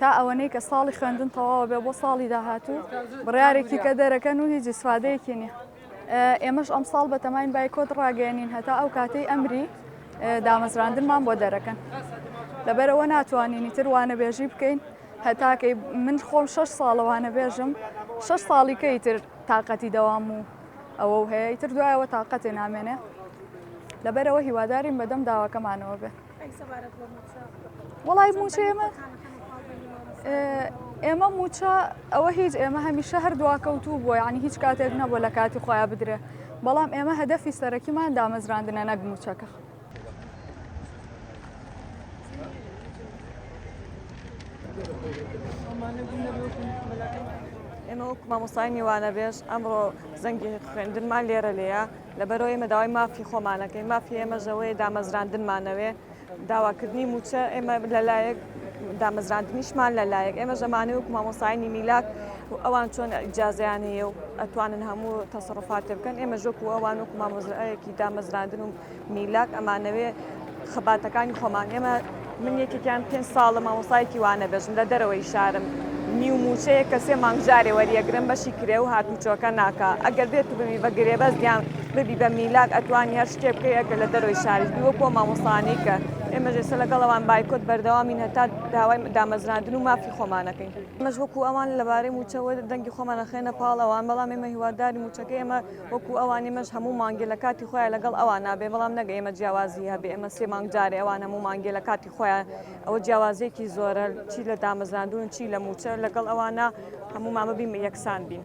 تا ئەوەنەی کە ساڵی خوێندن تەواوە بێ بۆ ساڵی داهاتوو بڕارێکی کە دەرەکەن و هیچ سوادەیەکی نیە ئێمەش ئەم ساڵ بەتەماین بایکۆت ڕاگەێنین هەتا ئەو کاتەی ئەمری دامەزراندنمان بۆ دەرەکەن لەبەرەوە ناتوانینی تروانە بێژی بکەین هەتاکەی من خۆم شش ساڵەوانە بێژم شش ساڵی کەی تر تااقەتی دەوام و ئەوە هەیە تر دوایەوە تااقەتێ نامێنێ لەبەرەوە هیوادارین بەدەم داواکەمانەوە بێ وڵی موچە ئێمە ئێمە موچە ئەوە هیچ ئێمە هەمیشە هەر دواکەوتوو بووە ینی هیچ کاتێک نەبووە لە کاتی خۆیان بدرێ بەڵام ئێمە هەدەفی سەرەکیمان دامەزراندنە نەک موچەکە. ئێمە وەک مامۆسای میوانە بێژ ئەمڕۆ زەنگی خوێندنمان لێرە لێە لەبەرئەوەی ئێمە داوای مافی خۆمان ئەکەین، مافی ئێمەش ئەوەیە دامەزراندنمان ئەوێ، داواکردنی مووچە ئێمە لەلایەک، دامەزراندنیشمان لەلایەک، ئێمەش ئەمانەی وەکو مامۆستایانی میلاد و ئەوان چۆن ئیجازەیان هەیە و ئەتوانن هەموو تەسەڕوفات پێ بکەن، ئێمەش وەکو ئەوان وەکو مامۆستایەکی دامەزراندن و میلاد ئەمانەوێ، خەباتەکانی خۆمان ئێمە من یەکێکیان پێنج ساڵە مامۆستایەکی وانە بێژم لە دەرەوەی شارم نیو موچەیە کە سێ مانگ جارێ وەریەگرم بەشی کرێ و هاتوچۆکە ناکە ئەگەر بێت و ببی بە گرێبەست یان ببی بە میلاک ئەتوانی هەر شتێ بکەی ئەگەر لە دەرەوەی شاریش بی وەکۆ مامۆستانی کە ئێمە ژێسە لەگەڵەوان بایکۆت بەردەوامین هەتا داوای دامەزراندن و مافی خۆمانەکەین ئێمەش وەکو ئەوان لەبارەی موچەوە دەنگی خۆمانەخەێنە پاڵ ئەوان بەڵام ئێمە هیواداری موچەکە ئێمە وەکو ئەوان ئێمەش هەموو مانگێ لە کاتی خۆیا لەگەڵ ئەوان نابێ بەڵام نەک ئێمە جیاوازی هەبێ ئێمە سێ مانگ جارێ ئەوان هەموو مانگێ لە کاتی خۆیا ئەوە جیاوازێکی زۆرە چی لە دامەزراندون چی لە موچە لەگەڵ ئەوانە هەموو مامە بیم یەکسان بین.